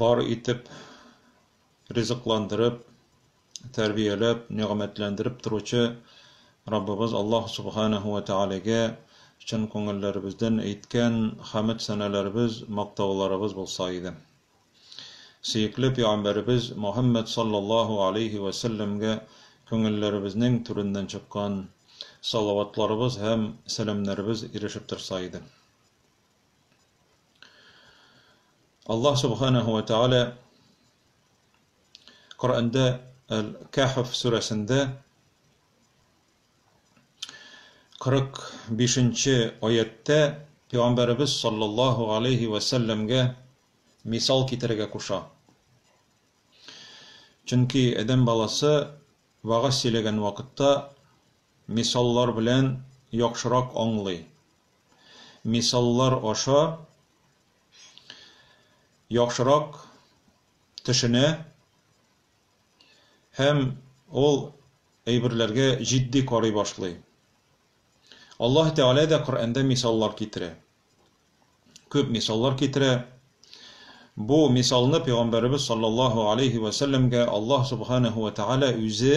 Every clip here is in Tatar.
бар итеп ризыкландырып, тәрбияләп, нигъмәтләндереп торучы Раббыбыз Аллаһ Субханаһу вә Тәгаләгә чын күңелләребездән әйткән хәмед-сәналарыбыз, мактауларыбыз булса иде. Сөекле пигамбәребез Мөхәммәд саллаллаһу галәйһи вә сәлләмгә күңелләребезнең түреннән чыккан салаватларыбыз һәм сәламнәребез ирешеп торса иде. Аллаһ Субханаһу ва Тааля Коръәндә Әл-Кәһф сүрәсендә 45-нче аятьтә Пәйгамбәребез саллаллаһу алейһи ва сәлләмгә мисал китерергә куша. Чөнки адәм баласы вагаз сөйләгән вакытта мисаллар белән яхшырак аңлый. мисаллар аша яхшырак төшенә һәм ул әйберләргә җитди карый башлый. Аллаһ Тәгалә дә Коръәндә мисаллар китерә. Күп мисаллар китерә. Бу мисалны пәйгамбәребез саллаллаһу алейһи ва сәлләмгә Аллаһ субханаһу ва тәгалә үзе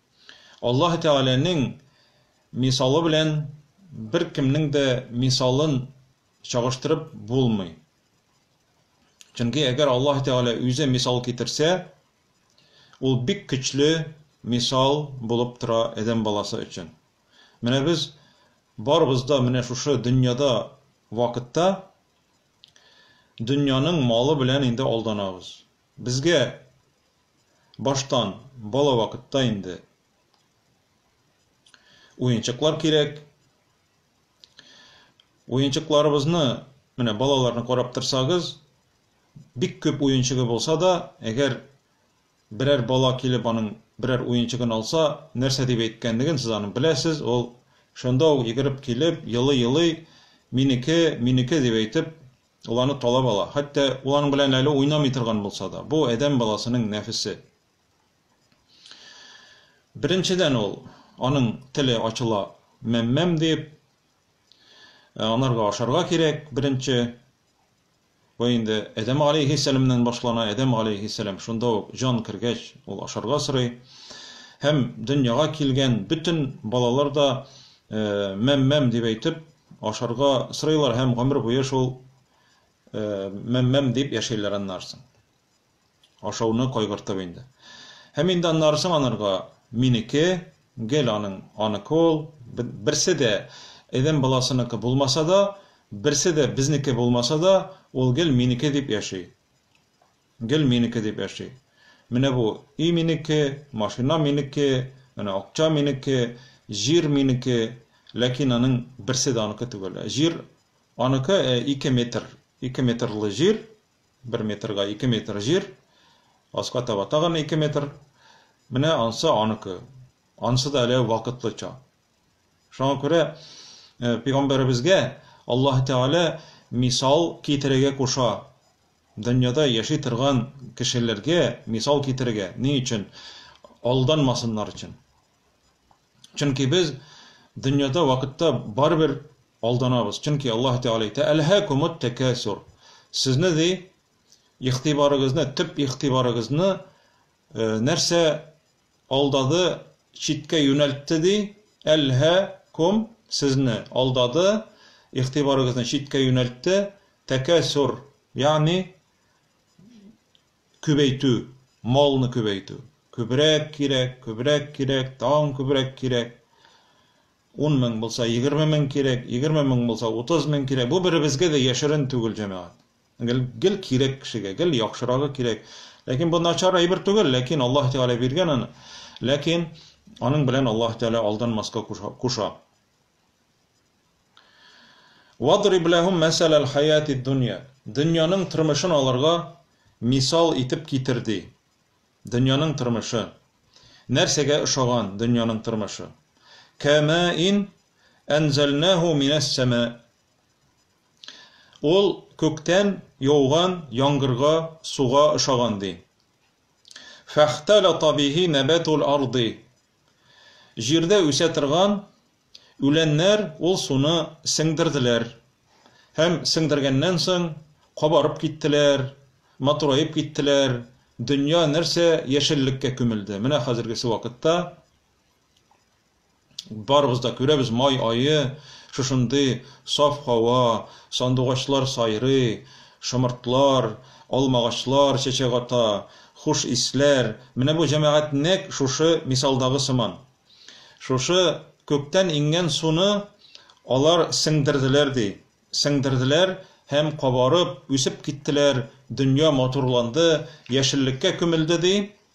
Аллаһы Тәгаләнең мисалы белән беркемнең дә мисалын чагыштырып булмый. Чөнки әгәр Аллаһы Тәгалә үзе мисал китерсә, ул бик көчле мисал булып тора адәм баласы өчен. Менә без барыбыз да менә шушы дөньяда вакытта дөньяның малы белән инде алданабыз. Безгә баштан бала вакытта инде уенчыклар кирәк. Уенчыкларыбызны, менә балаларны карап торсагыз, бик күп уенчыгы булса да, әгәр берәр бала килеп аның берәр уенчыгын алса, нәрсә дип әйткәнлеген сез аның беләсез, ул шунда ук йөгереп килеп, елый-елый, минеке, минеке дип әйтеп, Ул аны талап ала, хәтта ул аның белән әле уйнамый торган булса да. Бу, адәм баласының нәфесе. Беренчедән ул, аның теле ачыла, мәм-мәм дип, ә анарга ашарга кирәк, беренче. Бу инде Адәм алейхиссәламнән башлана, Адәм алейхиссәлам шунда ук җан кергәч, ул ашарга сорый. Һәм дөньяга килгән бөтен балалар да мәм-мәм дип әйтеп, Ашарга сорыйлар һәм гомер буе шул мәм-мәм дип яшәйләр аннары соң. Ашауны кайгыртып инде. Һәм инде аннары соң анарга минеке, гел аның аныкы ул, берсе дә Эдем баласыныкы булмаса да, берсе дә безнеке булмаса да, ул гел минеке дип яши. Гел минеке дип яши. Менә бу өй минеке, машина минеке, менә акча минеке, җир минеке, ләкин аның берсе дә аныкы түгел. Җир аныкы, ә ике метр, ике метрлы җир, бер метрга ике метр җир, аска таба тагын ике метр, менә ансы аныкы. Анысы да әле вакытлыча. Шуңа күрә пәйгамбәребезгә Аллаһ Тәгалә мисал китерергә куша. Дөньяда яши торган кешеләргә мисал китерергә. Ни өчен? Алданмасыннар өчен. Чөнки без дөньяда вакытта барыбер алданабыз. Чөнки Аллаһ Тәгалә әйтә: "Әлһәкумут тәкәсур". Сезне ди игътибарыгызны, төп игътибарыгызны нәрсә Алдады, читкә юнәлтте ди, әлһә, ком, сезне, алдады, игътибарыгызны читкә юнәлтте, тәкәсур, ягъни күбәйтү, малны күбәйтү, күбрәк кирәк, күбрәк кирәк, тагын күбрәк кирәк, ун мең булса, егерме мең кирәк, егерме мең булса, утыз мең кирәк, бу беребезгә дә яшерен түгел, җәмәгать. Гел, гел кирәк кешегә, гел яхшырагы кирәк. Ләкин бу начар әйбер түгел, ләкин Аллаһ Тәгалә биргән аны. Ләкин аның белән Аллаһ Тәгалә алданмаска куша. Вадриб ләһум мәсәләл хаятид дөнья. Дөньяның тормышын аларга мисал итеп китер ди. Дөньяның тормышы. Нәрсәгә ошаган дөньяның тормышы? Кәмәин әнзәлнәһу минәс сәмә. Ул күктән яуган яңгырга, суга ошаган, ди. Фәхтәлата бихи нәбәтул арди. Җирдә үсә торган үләннәр ул суны сеңдерделәр. Һәм сеңдергәннән соң кабарып киттеләр, матураеп киттеләр, дөнья нәрсә яшеллеккә күмелде. Менә хәзергесе вакытта Барыбыз да күрәбез, май ае, шушындый саф һава, сандугачлар сайрый, шомыртлар, алмагачлар чәчәк ата, хуш исләр. Менә бу җәмәгать нәкъ шушы мисалдагы сыман. Шушы күктән иңгән суны алар сеңдерделәр, ди. Сеңдерделәр һәм кабарып, үсеп киттеләр, дөнья матурланды, яшеллеккә күмелде, ди.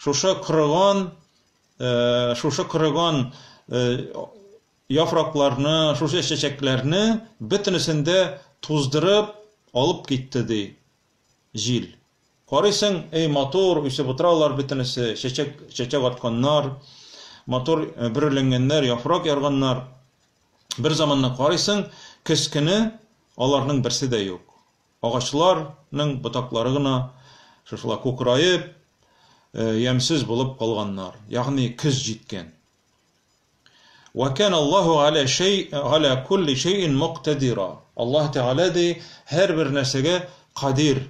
Шушы корыган, шушы корыган яфракларны, шушы чәчәкләрне бөтенесен дә туздырып алып китте, ди җил. Карыйсың, эй, матур, үсеп утыралар бөтенесе, чәчәк, чәчәк атканнар, матур бөреләнгәннәр, яфрак ярганнар. Бер заманны карыйсың, көз көне аларның берсе дә юк. Агачлар ның ботаклары гына шушылай кукыраеп, ямьсез булып калганнар, ягъни көз җиткән. Вә кәнә Аллаһу галә шәй, галә кулли шәйин муктәдира. Аллаһ Тәгалә ди, һәрбер нәрсәгә кадир,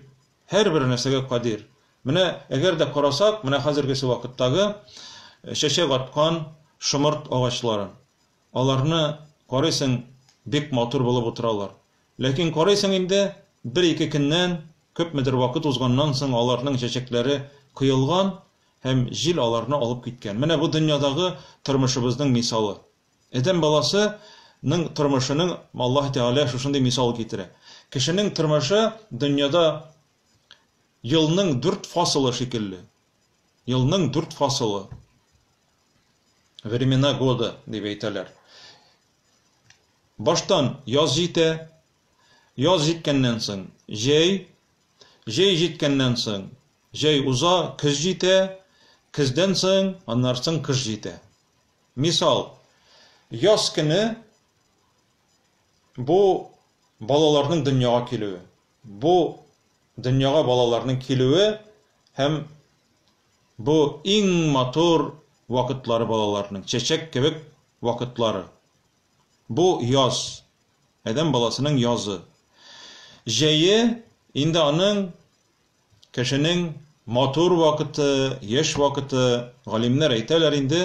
һәрбер нәрсәгә кадир. Менә әгәр дә карасак, менә хәзергесе вакыттагы чәчәк аткан шомырт агачларын. Аларны карыйсың, бик матур булып утыралар. Ләкин карыйсың инде, бер-ике көннән, күпмедер вакыт узганнан соң аларның чәчәкләре коелган һәм җил аларны алып киткән. Менә бу дөньядагы тормышыбызның мисалы. Адәм баласы ның тормышының Аллаһ Тәгалә шушындый мисал китерә. Кешенең тормышы дөньяда елның дүрт фасылы шикелле. Елның дүрт фасылы. Времена года дип әйтәләр. Баштан яз җитә, яз җиткәннән соң, җәй, җәй җиткәннән соң, җәй уза, көз җитә, көздән соң, аннары соң кыш җитә. Мисал, яз көне бу балаларның дөньяга килүе. Бу дөньяга балаларның килүе һәм бу иң матур вакытлары балаларның, чәчәк кебек вакытлары. Бу, яз. Адәм баласының язы. Җәе, инде аның, кешенең матур вакыты, яшь вакыты. Галимнәр әйтәләр инде,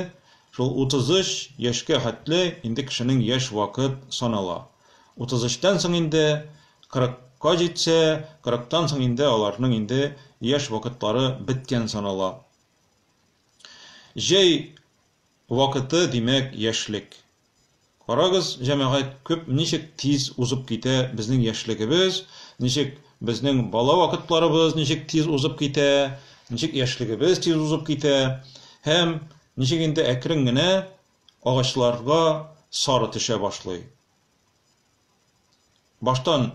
шул 33 яшькә хәтле инде кешенең яшь вакыт санала. 33-тән соң инде, 40-ка җитсә, 40-тан соң инде аларның инде яшь вакытлары беткән санала. Җәй Вакыты, димәк, яшьлек. Карагыз, җәмәгать, күп ничек тиз узып китә безнең яшьлегебез, ничек безнең бала вакытларыбыз ничек тиз узып китә, ничек яшьлегебез тиз узып китә һәм ничек инде әкрен генә агачларга сары төшә башлый. Баштан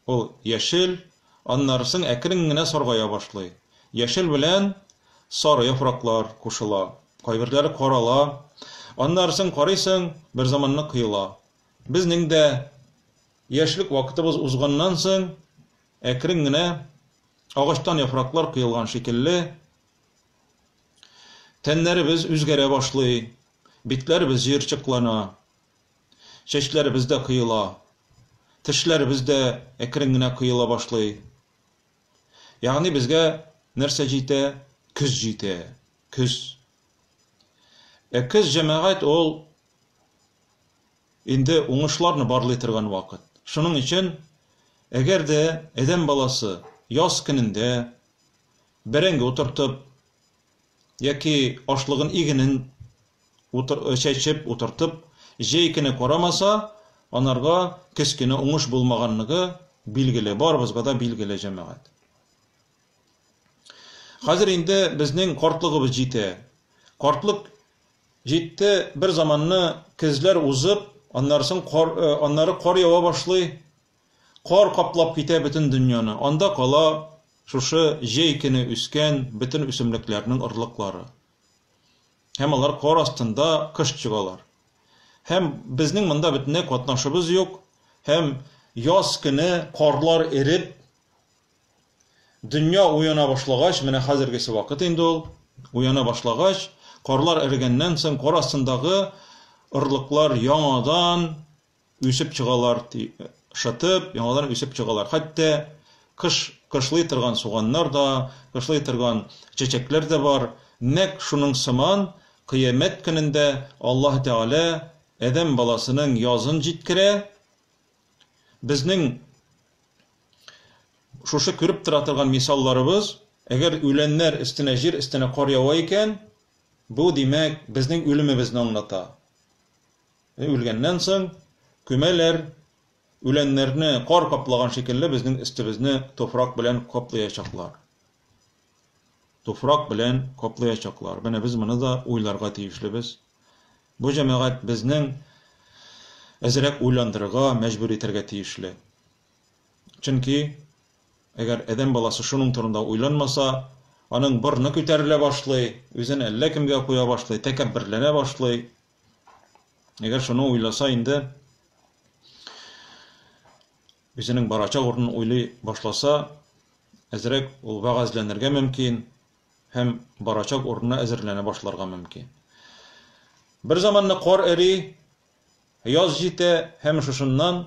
Ул яшел, аннары соң әкрен генә саргая башлый. Яшел белән сары яфраклар кушыла, кайберләре карала, аннары соң карыйсың, берзаманны коела. Безнең дә яшьлек вакытыбыз узганнан соң, әкрен генә агачтан яфраклар коелган шикелле, тәннәребез үзгәрә башлый, битләребез җыерчыклана. Чәчләребез дә коела. Тешләребез дә әкрен генә коела башлый. Ягъни безгә нәрсә җитә? Көз җитә. Көз. Ә көз, җәмәгать, ул инде уңышларны барлый торган вакыт. Шуның өчен, әгәр дә адәм баласы яз көнендә бәрәңге утыртып, Яки ашлыгын игенен утыр чәчеп утыртып җәй көне карамаса, анарга кечкенә уңыш булмаганлыгы билгеле, барыбызга да билгеле, җәмәгать. Хәзер инде безнең картлыгыбыз җитә. Картлык җитте, бер заманны көзләр узып, аннарсын кар, аннары кар ява башлый, Кар каплап китә бөтен дөньяны. Анда кала шушы җәй көне үскән бөтен үсемлекләрнең орлыклары. Һәм алар кар астында кыш чыгалар. Һәм безнең монда бөтенләй катнашыбыз юк, һәм яз көне карлар эреп, дөнья уяна башлагач, менә хәзергесе вакыт инде ул, уяна башлагач, карлар эрегәннән соң, кар астындагы орлыклар яңадан, Үсеп чыгалар, ди, шытып, яңадан үсеп чыгалар. Хәтта кыш кышлый торган суганнар да, кышлый торган чәчәкләр дә бар. Нәкъ шуның сыман, Кыямәт көнендә Аллаһ Тәгалә адәм баласының язын җиткерә. Безнең шушы күреп тора торган мисалларыбыз, әгәр үләннәр өстенә, җир өстенә кар ява икән, бу, димәк, безнең үлемебезне аңлата. Үлгәннән соң күмәләр, үләннәрне кар каплаган шикелле безнең өстебезне туфрак белән каплыячаклар. Туфрак белән каплыячаклар. Менә без моны да уйларга тиешлебез. Бу җәмәгать безнең әзрәк уйландырырга, мәҗбүр итәргә тиешле. Чөнки әгәр адәм баласы шуның турында уйланмаса, аның борны күтәрелә башлый, үзен әллә кемгә куя башлый, тәкәбберләнә башлый, Әгәр шуны уйласа инде үзенең барачак урынын уйлый башласа, әзрәк ул вәгазьләнергә мөмкин һәм барачак урынына әзерләнә башларга мөмкин. Бер заманны кар эри, яз җитә һәм шушыннан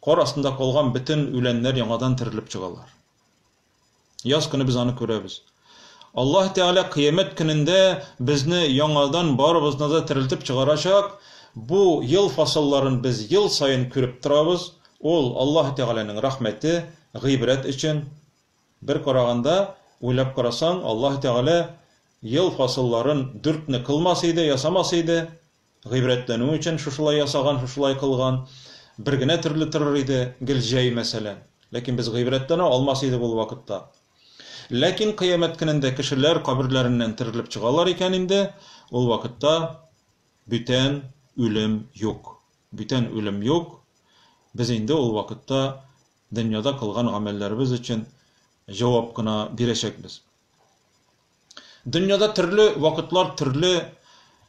кар астында калган бөтен үләннәр яңадан терелеп чыгалар. Яз көне без аны күрәбез. Аллаһ Тәгалә кыямәт көнендә безне яңадан барыбызны да терелтеп чыгарачак. Бу ел фасылларын без ел саен күреп торабыз. Ул Аллаһ Тәгаләнең рәхмәте, гыйбрәт өчен. Бер караганда, уйлап карасаң, Аллаһ Тәгалә ел фасылларын дүртне кылмас иде, ясамас иде. Гыйбрәтләнү өчен шушылай ясаган, шушылай кылган. Бер генә төрле торыр иде, гел җәй, мәсәлән. Ләкин без гыйбрәтләнә алмас идек ул вакытта. Ләкин кыямәт көнендә кешеләр каберләреннән терелеп чыгалар икән инде, ул вакытта бүтән үлем юк. Бүтән үлем юк. Без инде ул вакытта дөньяда кылган гамәлләребез өчен җавап кына бирәчәкбез. Дөньяда төрле вакытлар, төрле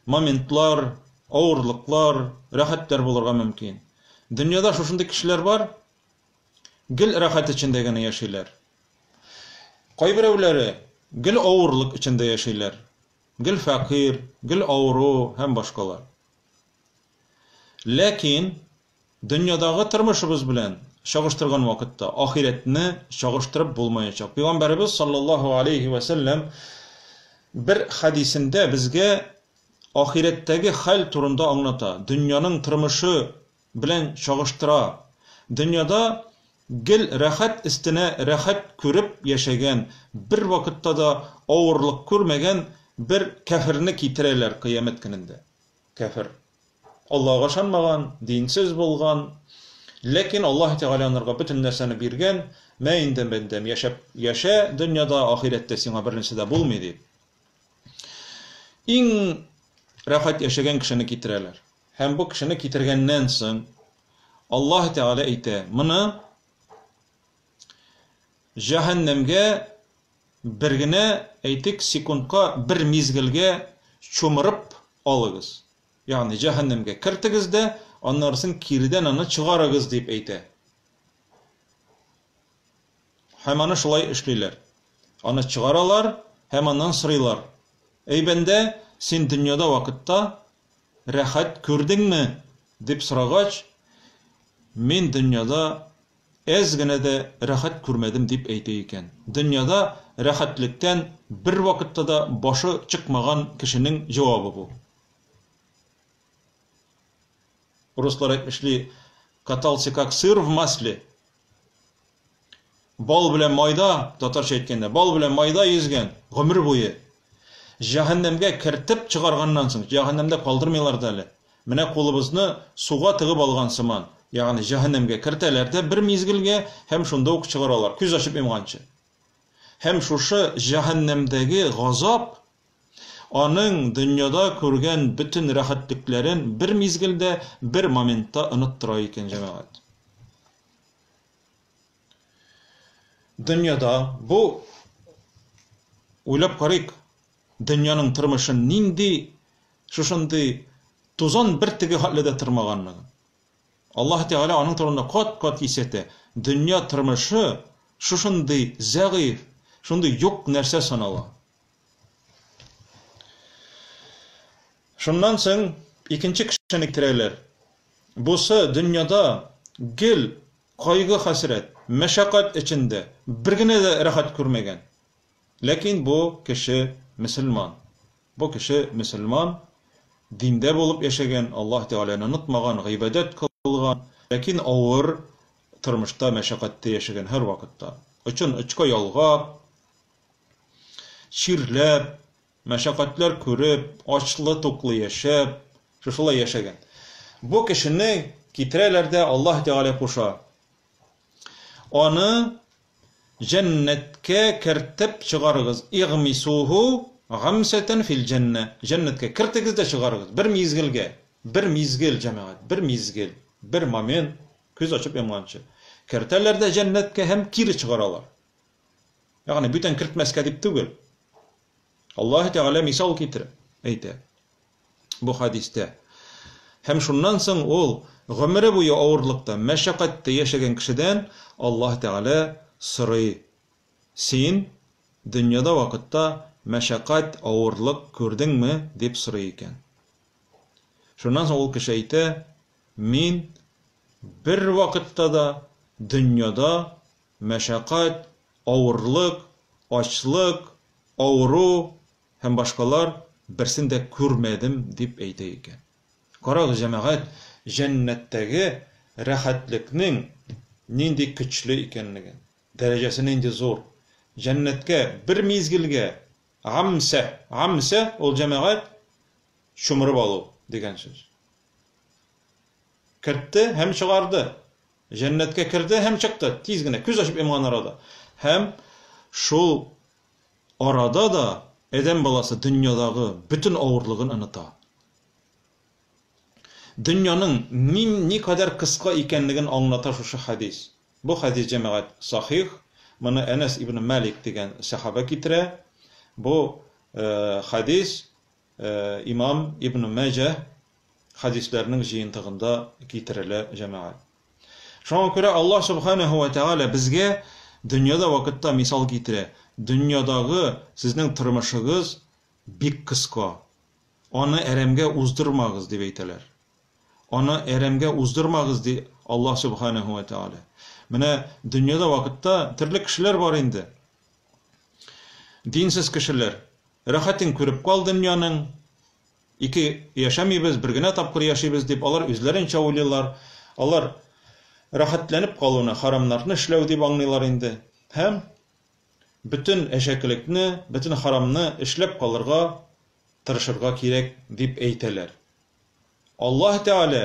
моментлар, авырлыклар, рәхәтләр булырга мөмкин. Дөньяда шушындый кешеләр бар, гел рәхәт эчендә генә яшиләр. Кайберәүләре гел авырлык эчендә яшиләр. Гел фәкыйр, гел авыру һәм башкалар. Ләкин Дөньядагы тормышыбыз белән чагыштырган вакытта ахирәтне чагыштырып булмаячак. Пәйгамбәребез саллаллаһу алейһи вә сәлләм бер хәдисендә безгә ахирәттәге хәл турында аңлата, дөньяның тормышы белән чагыштыра. Дөньяда гел рәхәт өстенә рәхәт күреп яшәгән, бервакытта да авырлык күрмәгән бер кяферне китерәләр Кыямәт көнендә. кәфер. Аллаһыга ышанмаган, динсез булган, ләкин Аллаһы Тәгалә анырга бөтен нәрсәне биргән, мә инде, бәндәм, яшәп яшә дөньяда, ахирәттә сиңа бернәрсә дә булмый, дип, иң рәхәт яшәгән кешене китерәләр. Һәм бу кешене китергәннән соң, Аллаһы Тәгалә әйтә, моны җәһәннәмгә Бер генә, әйтик, секундка бер мизгелгә чумырып алыгыз, ягъни җәһәннәмгә кертегез дә, аннары соң киредән аны чыгарыгыз, дип әйтә. Һәм аны шулай эшлиләр. Аны чыгаралар һәм аннан сорыйлар, Әй бәндә, син дөньяда вакытта рәхәт күрдеңме? дип сорагач, Мин дөньяда Әз генә дә рәхәт күрмәдем, дип әйтә икән. Дөньяда рәхәтлектән бервакытта да башы чыкмаган кешенең җавабы бу. Руслар әйтмешли, катался как сыр в масле. Бал белән майда, татарча әйткәндә, бал белән майда йөзгән, гомер буе. Җәһәннәмгә кертеп чыгарганнан соң, җәһәннәмдә калдырмыйлар да әле. Менә кулыбызны суга тыгып алган сыман, ягъни җәһәннәмгә кертәләр дә бер мизгелгә һәм шунда ук чыгаралар, күз ачып йомганчы. Һәм шушы җәһәннәмдәге газап аның дөньяда күргән бөтен рәхәтлекләрен бер мизгелдә, бер моментта оныттыра икән, җәмәгать. Дөньяда бу, уйлап карыйк, Дөньяның тормышын нинди шушындый тузан бөртеге хәтле дә тырмаганлыгын. Аллаһы Тәгалә аның турында кат-кат кисәтә, дөнья тормышы шушындый зәгыйфь, шундый юк нәрсә санала. Шуннан соң икенче кешене китерәләр. Бусы дөньяда гел кайгы-хәсрәт, мәшәкать эчендә, бер генә дә рәхәт күрмәгән. Ләкин бу кеше мөселман. Бу кеше мөселман, диндә булып яшәгән, Аллаһ Тәгаләне онытмаган, гыйбадәт кылган, ләкин авыр тормышта, мәшәкатьтә яшәгән һәрвакытта. Очын очка ялгап, чирләп, мәшәкатьләр күреп, ачлы-туклы яшәп, шушылай яшәгән. Бу кешене китерәләр дә Аллаһ Тәгалә куша. Аны Җәннәткә кертеп чыгарыгыз, игъмисуһу гамсәтән фил-җәннә, җәннәткә кертегез дә чыгарыгыз, бер мизгелгә, бер мизгел, җәмәгать, бер мизгел, бер момент, күз ачып йомганчы. Кертәләр дә җәннәткә һәм кире чыгаралар. Ягъни бүтән кертмәскә дип түгел. Аллаһы Тәгалә мисал китереп әйтә. бу хәдистә. Һәм шуннан соң ул гомере буе авырлыкта, мәшәкатьтә яшәгән кешедән Аллаһ Тәгалә сорый, Син дөньяда вакытта мәшәкать, авырлык күрдеңме? дип сорый икән. Шуннан соң ул кеше әйтә, Мин бервакытта да дөньяда мәшәкать, авырлык, ачлык, авыру, Һәм башкалар, Берсен дә күрмәдем, дип әйтә икән. Карагыз, җәмәгать, җәннәттәге рәхәтлекнең нинди көчле икәнлеген, дәрәҗәсе нинди зур! Җәннәткә бер мизгелгә, гамсә, гамсә, ул, җәмәгать, чумырып алу дигән сүз. Кертте һәм чыгарды. Җәннәткә керде һәм чыкты, тиз генә, күз ачып йомган арада. Һәм шул Арада да адәм баласы дөньядагы бөтен авырлыгын оныта. Дөньяның ни никадәр кыска икәнлеген аңлата шушы хәдис. Бу хәдис, җәмәгать, сахих. Моны Әнәс ибне Малик дигән сәхабә китерә. Бу хәдис Имам Ибн Мәҗә хәдисләренең җыентыгында китерелә, җәмәгать. Шуңа күрә Аллаһ Субханаһу вә Тәгалә безгә дөньяда вакытта мисал китерә, Дөньядагы сезнең тормышыгыз бик кыска. Аны әрәмгә уздырмагыз, дип әйтәләр. Аны әрәмгә уздырмагыз, ди Аллаһ Субханаһу вә Тәгалә. Менә дөньяда вакытта төрле кешеләр бар инде. Динсез кешеләр, рәхәтен күреп кал дөньяның, ике яшәмибез, бер генә тапкыр яшибез дип, алар үзләренчә уйлыйлар, алар рәхәтләнеп калуны харамнарны эшләү дип аңлыйлар инде һәм бөтен әшәкелекне, бөтен харамны эшләп калырга тырышырга кирәк дип әйтәләр. Аллаһ Тәгалә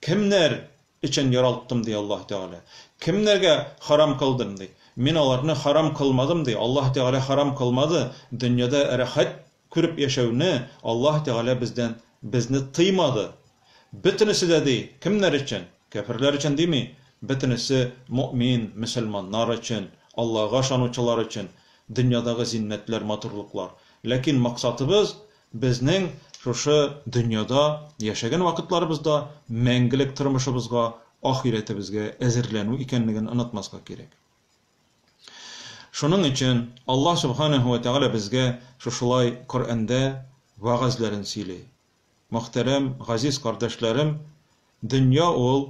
Кемнәр өчен яралттым, ди Аллаһы Тәгалә. Кемнәргә харам кылдым, ди. Мин аларны харам кылмадым, ди. Аллаһы Тәгалә харам кылмады. Дөньяда рәхәт күреп яшәүне Аллаһы Тәгалә бездән, безне тыймады. Бөтенесе дә, ди, кемнәр өчен? Кяферләр өчен дими, бөтенесе мөэмин, мөселманнар өчен, Аллага ышанучылар өчен, дөньядагы зиннәтләр, матурлыклар. Ләкин максатыбыз, Безнең шушы дөньяда яшәгән вакытларыбыз да мәңгелек тормышыбызга, ахирәтебезгә әзерләнү икәнлеген онытмаска кирәк. Шуның өчен Аллаһ Сүбханәһү вә Тәгалә безгә шушылай Коръәндә вәгазьләрен сөйли. Мөхтәрәм, газиз кардәшләрем, дөнья ул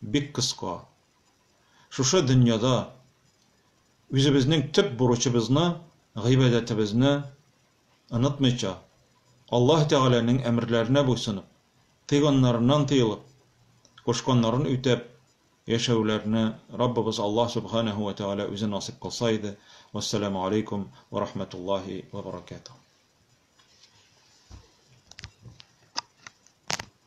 бик кыска. Шушы дөньяда үзебезнең төп бурычыбызны, гыйбадәтебезне, онытмыйча, Аллаһ Тәгаләнең әмерләренә буйсынып, тыйганнарыннан тыелып, кушканнарын үтәп яшәүләрне Раббыбыз Аллаһ Сүбхәнәһү вә Тәгалә үзе насыйп кылса иде. Вәссәламү алейкүм вә рәхмәтуллаһи вә бәрәкәтүһ.